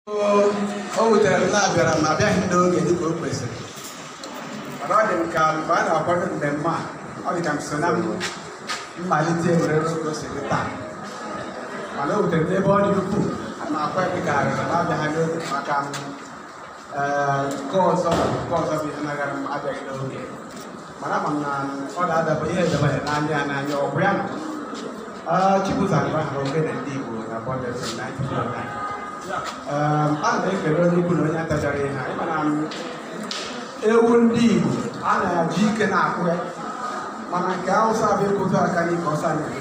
o wutere m na abịara m abịaghị m n'oge dịka o kwesịrị mana ọ dị m ka mgbe a na-akwado mmemme a ọ dị ka m so na mmalite were oge o si dị taa mana o wutere m n'ebe ọ dị ukwuu a na-akwa ebe ka arịrị na abịaghị n'oge maka m ee nke ọzọ nke ọzọ bụ ihe nagara m abịaghị n'oge mana ama m na ọ ga-adaba ihe edaba ya n'anya ya n'anya ọ bụ ya na Chibuzo Agba hụrụ ogene ndị Igbo na Bond FM 92.9 a na-ekele onye ukwu na onye nta ka ha ra ihe anyị ma na ewu ndị Igbo a na-eji ike na-akpụ ya mana nke Hausa bụ ịkụtụ aka n'ike ọsọ na-eme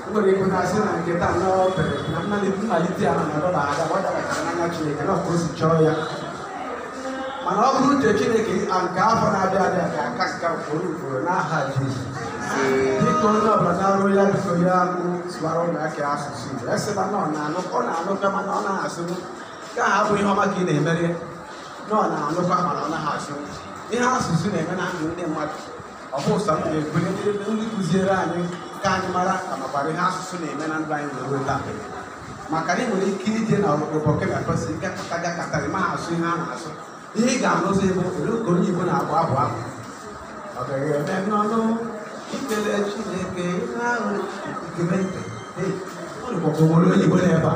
nwere ike na-asị na nke taa na o pere na mmalite mmalite ya mana dọla aga ọ dabachara n'anya Chineke na otu o si chọọ ya mana ọ bụrụ uche Chineke a nke afọ na-abịa abịa ga-aka nke a ugboro ugboro n'aha Jizọs biko onye ọbụla naruo ya biko ya mụ sụwara ụmụaka ya asụsụ Igbo asịla na ọ na-anụ ọ na-anụkwa mana ọ naghị asụnụ ka ha bụ ihe ọma ka ị na-emere ya na ọ na-anụkwa mana ọ naghị asụnụ ihe asụsụ na-eme na ndụ ndị mmadụ ọ bụ ụsa m ga-ekele ndị ndị kụziere anyị ka anyị mara ka makwara ihe asụsụ na-eme na ndụ anyị wee ruo taa maka na ị nwere ike ije na Burkina Faso ị gakọta gakọta ị ma asụ ihe a na-asụ ihe ị ga-anụzi bụ olu ka onye Igbo na-abụ abụ abụ ọ gaghị eme n'ọnụ ikele Chineke ihe ahụ i gee ntị Hey, ọ dịkwa ka o nwere onye Igbo nọ ebe a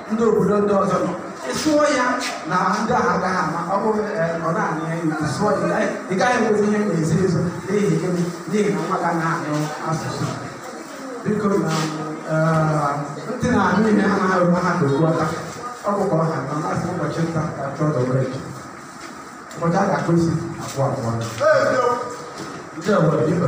ndị obodo ndị ọzọ nọ ị sụọ ya na ndị ahụ agaghị ama ọ bụrụ ọ na-anụ ya i wee sụọ ya ị gaghị enwezi ihe na-ezo ezo n'ihi gịnị n'ihi na nwa gị na-anụ asụsụ biko na ntị na-anụ ihe anarọ aha ka okpu ata ọ bụkwa ọha na masị ụbọchị nta ka a chụọ n'owere ụbọchị a ga-akpụ isi abụọ abụọ ndị ọgbara ibe